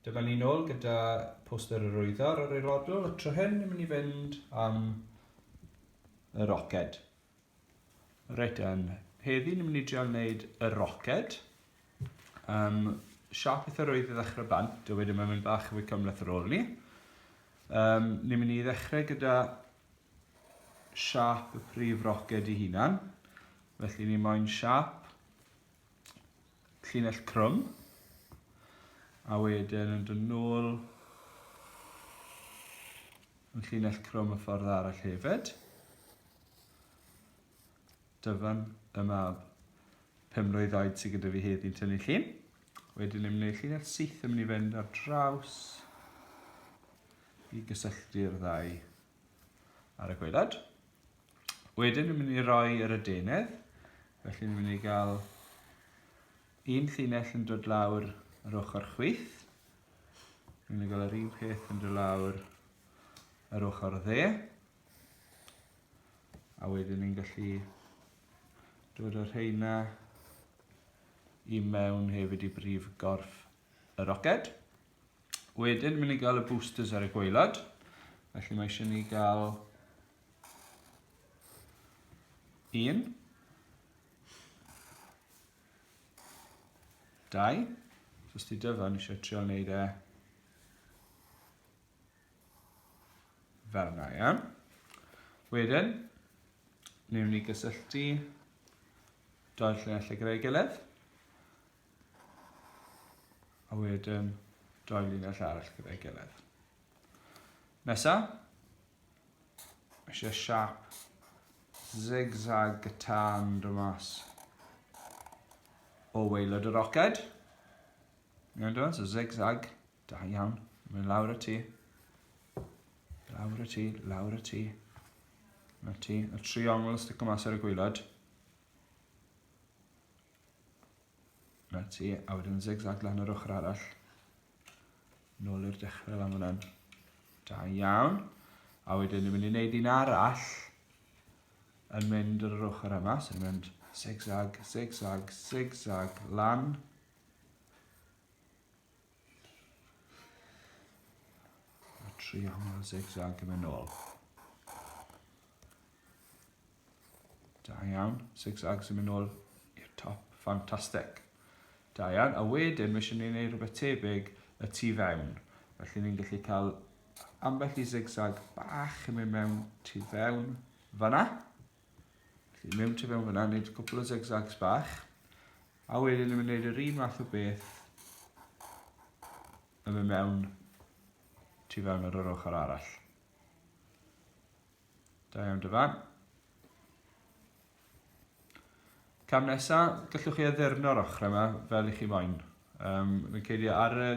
Dyma ni nôl gyda poster yr wyddor o'r eirodl, y tro hyn yn mynd i fynd am y roced. Reit, yn heddi ni'n mynd i dreol wneud y roced. Um, siap eitha rwydd i ddechrau bant, a wedyn mae'n mynd bach fwy cymleth ar ôl ni. Um, ni'n mynd i ddechrau gyda siap y prif roced i hunan. Felly ni moyn siap llinell crwm a wedyn yn dod nôl yn llinell crwm y ffordd arall hefyd. Dyfan y mab pum mlwydd oed sydd gyda fi heddi'n tynnu llun. Wedyn ni'n gwneud llinell syth yn mynd i fynd ar draws i gysylltu'r ddau ar y gwaelod. Wedyn ni'n mynd i roi yr adenydd, felly ni'n mynd i gael un llinell yn dod lawr yr ochr chwith. Ni'n mynd i gael yr un peth yn dod lawr yr ochr dde. A wedyn ni'n gallu dod o'r rheina i mewn hefyd i brif gorff y roced. Wedyn, mynd i gael y boosters ar y gweilad. Felly mae eisiau ni gael un. Dau. So, os ti dyfa, ni eisiau trio wneud e fel yna, iawn. Wedyn, ni'n mynd i gysylltu doedd lle allu gyda'i gilydd. A wedyn doi linell arall gyda'i gilydd. Nesa, eisiau siap zigzag gytan dy mas o weilod y roced. Iawn dwi'n, so zigzag, da iawn, mae'n lawr y ti. Lawr y ti, lawr y ti. Na ti, y triongl stico mas ar y gwylod. 'Na ti, a wedyn zigzag lan yr ochr arall. Nôl i'r dechrau lan fyna'n. Da iawn. A wedyn ni'n mynd i wneud un arall yn mynd yr ochr yma, so ni'n mynd zigzag, zigzag, zigzag, lan. A tri aml zigzag yn mynd nôl. Da iawn. Six Ags yn mynd nôl i'r top. Ffantastig. Da iawn. A wedyn, mae eisiau ni wneud rhywbeth tebyg y tu fewn. Felly ni'n gallu cael ambell i zigzag bach yn mynd mewn tu fewn fanna. Felly mewn tu fewn fanna, wneud cwpl o zigzags bach. A wedyn ni'n mynd wneud yr un math o beth yn mynd mewn tu fewn ar yr ochr arall. Da iawn dy fam. Cam nesa, gallwch chi addurno'r ochrau yma fel i chi moyn. Um, mae'n credu ar y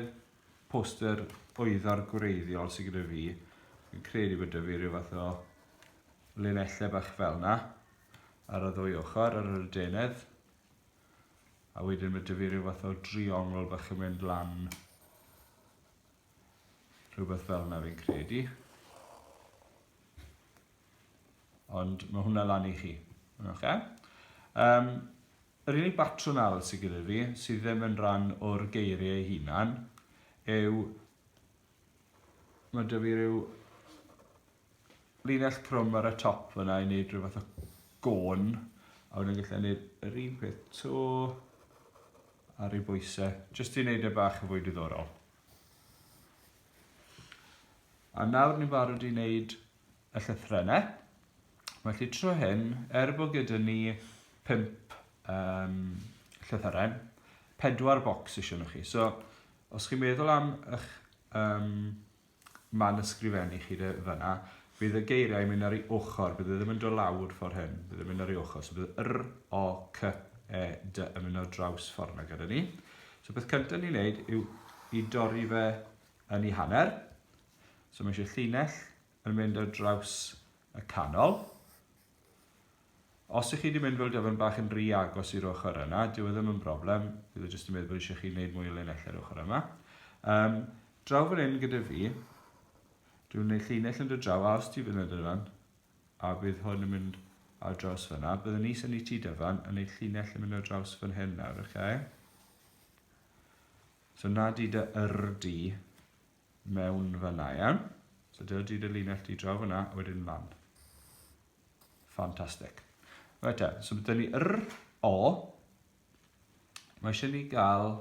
poster oeddo'r gwreiddiol sydd gyda fi, yn credu bod y fi rhyw fath o linellau bach fel yna ar y ddwy ochr, ar yr adenedd. A wedyn mae dy fi rhyw fath o driongl bach yn mynd lan Rhywbeth fel yna fi'n credu. Ond mae hwnna lan i chi. Okay? Um, yr unig batrwm arall sydd gyda fi, sydd ddim yn rhan o'r geiriau ei hunan, yw mae dyfu rhyw linell crwm ar y top fyna i wneud rhywbeth o gôn. A wedyn gallai wneud yr un peth to ar ei bwysau, jyst i wneud e bach yn fwy diddorol. A nawr ni'n barod i wneud y llythrenau. Mae chi tro hyn, er bod gyda ni pimp um, llythyrau, pedwar bocs eisiau nhw chi. So, os chi'n meddwl am eich um, Mae'n ysgrifennu chi de, fan'na. Fydd y geiriau yn mynd ar ei ochr, bydd e ddim yn dod lawr ffordd hyn, bydd e'n mynd ar ei ochr. So bydd yr, o, c, e, d yn mynd ar draws ffordd yna gyda ni. So beth cyntaf ni'n neud yw i dorri fe yn ei hanner. So mae eisiau llinell yn mynd ar draws y canol. Os ych chi wedi mynd fel dyfan bach yn ry agos i'r ochr yna, dyw e ddim yn broblem, bydd e jyst yn meddwl bod eisiau chi wneud mwy o linell ar ochr yma. Um, draw fan hyn gyda fi, dwi'n gwneud llinell yn dod draw, a os ti fynd yn dyfan, a bydd hwn yn mynd ar draws fyna, byddwn ni sy'n ei ti dyfan yn gwneud llinell yn mynd ar draws fan hyn nawr, oce? Okay? So na di dy yr di, mewn fyna, iawn? So dyna di dy linell di draw fyna, a wedyn lan. Ffantastig. Right te, so byddwn ni yr o. Mae eisiau ni gael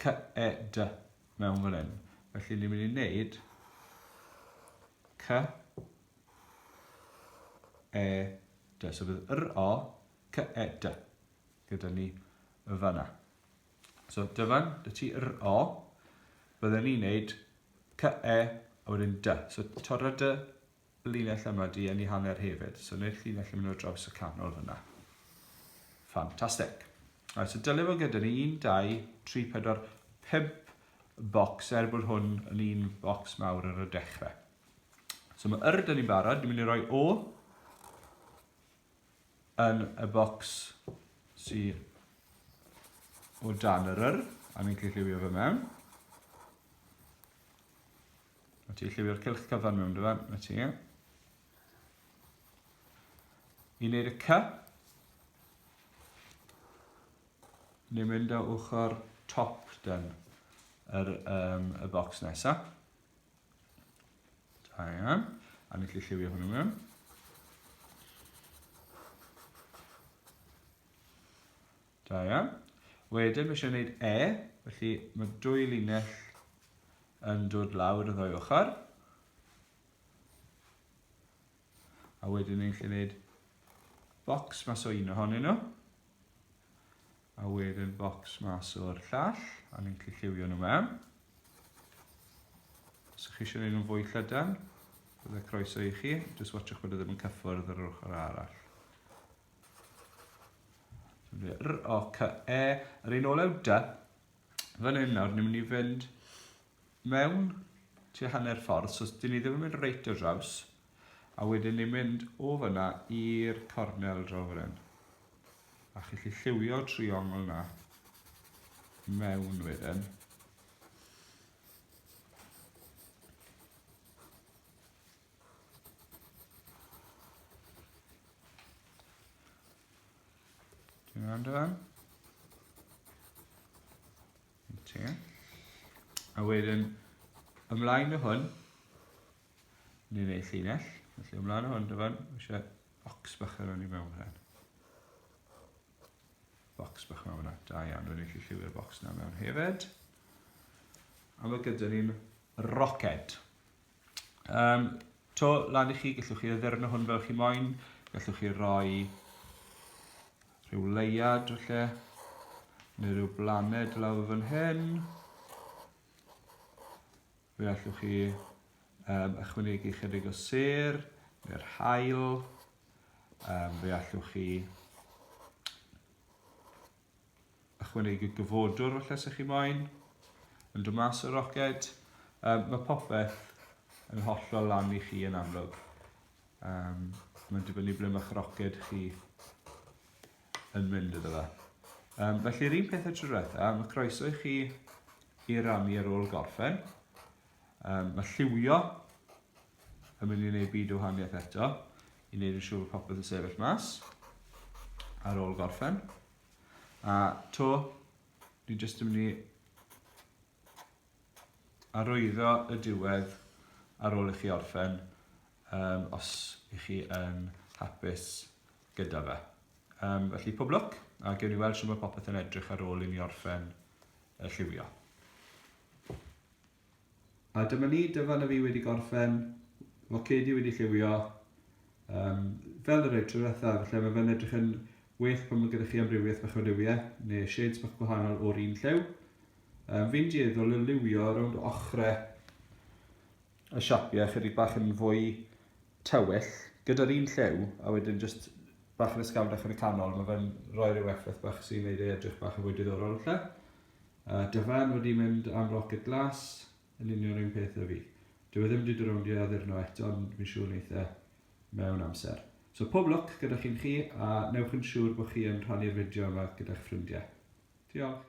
cy e dy mewn fan hyn. Felly ni'n mynd i wneud cy e dy. So bydd yr o cy e dy gyda ni y fanna. So dyfan, dy ti r o, byddwn ni'n neud c e a wedyn dy. So torra dy linell yma di yn ei hanner hefyd. So neu'r llinell yn mynd o draws y canol fyna. Ffantastig. Right, so dylai fod gyda ni 1, 2, 3, 4, 5 bocs er bod hwn yn un bocs mawr ar y dechrau. So mae yr dyn ni'n barod, ni'n mynd i roi o yn y bocs sy o dan yr yr, a ni'n gallu lliwio fe mewn. A ti lliwio'r cylch cyfan mewn dyfa, na ti. I wneud y cy, ni'n mynd o ochr top den yr, um, y bocs nesaf. Da iawn. A ni gallu lliwio hwnnw mewn. Da iawn. Wedyn, mae eisiau gwneud E, felly mae dwy linell yn dod lawr y ddwy ochr. A wedyn ni'n gallu gwneud bocs mas o un ohonyn nhw. A wedyn bocs mas o'r llall, a ni'n gallu lliwio nhw mewn. Os ydych chi eisiau gwneud nhw'n fwy llydan, byddai croeso i chi, jyst watchwch bod e ddim yn cyffwrdd ar yr ochr arall. R, O, C, E, yr un olew D. Fan hyn nawr, ni'n mynd i fynd mewn tua hanner ffordd, so dyn ni ddim yn mynd reit o draws, A wedyn ni'n mynd o fyna i'r cornel draw fan hyn. A chi'n gallu lliwio triongl na mewn wedyn. Ti'n gwrando fan? Ti. A wedyn, ymlaen o hwn, Ni fe llinell, felly ymlaen o hwn dyfan, eisiau box bach ar hwn i mewn hyn. Box bach mewn hwnna, da iawn, dwi'n eich lliwio'r box na mewn hefyd. A mae gyda ni'n roced. Um, to lan i chi, gallwch chi addurno hwn fel chi moyn, gallwch chi roi rhyw leiad felly, neu rhyw blaned lawr fan hyn. Fe allwch chi um, ychwanegu chydig o ser neu'r hael. Um, fe allwch chi ychwanegu gyfodwr falle sy'ch chi moyn yn dod mas o'r roced. Um, mae popeth yn hollol lan i chi yn amlwg. Um, mae'n dibynnu ble mae'ch roced chi. yn mynd iddo fe. Um, felly, yr un peth y tro diwetha, mae croeso i chi i rannu ar ôl gorffen. Um, mae lliwio yn mynd i wneud byd o wahaniaeth eto, i wneud yn siŵr bod popeth yn sefyll mas ar ôl gorffen. A to, ni jyst yn mynd i arwyddo y diwedd ar ôl i chi orffen, um, os i chi yn hapus gyda fe. Um, felly, pob lwc, a gewn ni weld sy'n mae popeth yn edrych ar ôl i ni orffen y lliwio. A dyma ni, dyfan y fi wedi gorffen, focedi wedi lliwio, um, fel yr eitr ddiwetha, felly mae fe'n edrych yn well pan mae gyda chi amrywiaeth bach o liwiau, neu shades bach gwahanol o'r un lliw. Um, fi'n dieddol o liwio rownd ochrau y siapiau chydig bach yn fwy tywyll, gyda'r un lliw, a wedyn jyst bach yn ysgafnach yn y canol, mae fe'n rhoi rhyw effaith bach sy'n gwneud ei edrych bach yn fwy diddorol lle. Uh, dyfan wedi mynd am rocket glas, yn union un peth â fi. Dwi e ddim wedi dod rownd i addurno eto, ond fi'n siŵr wneith e mewn amser. So pob lwc gyda chi'n chi, a newch yn siŵr bod chi yn rhannu'r fideo yma gyda'ch ffrindiau. Diolch!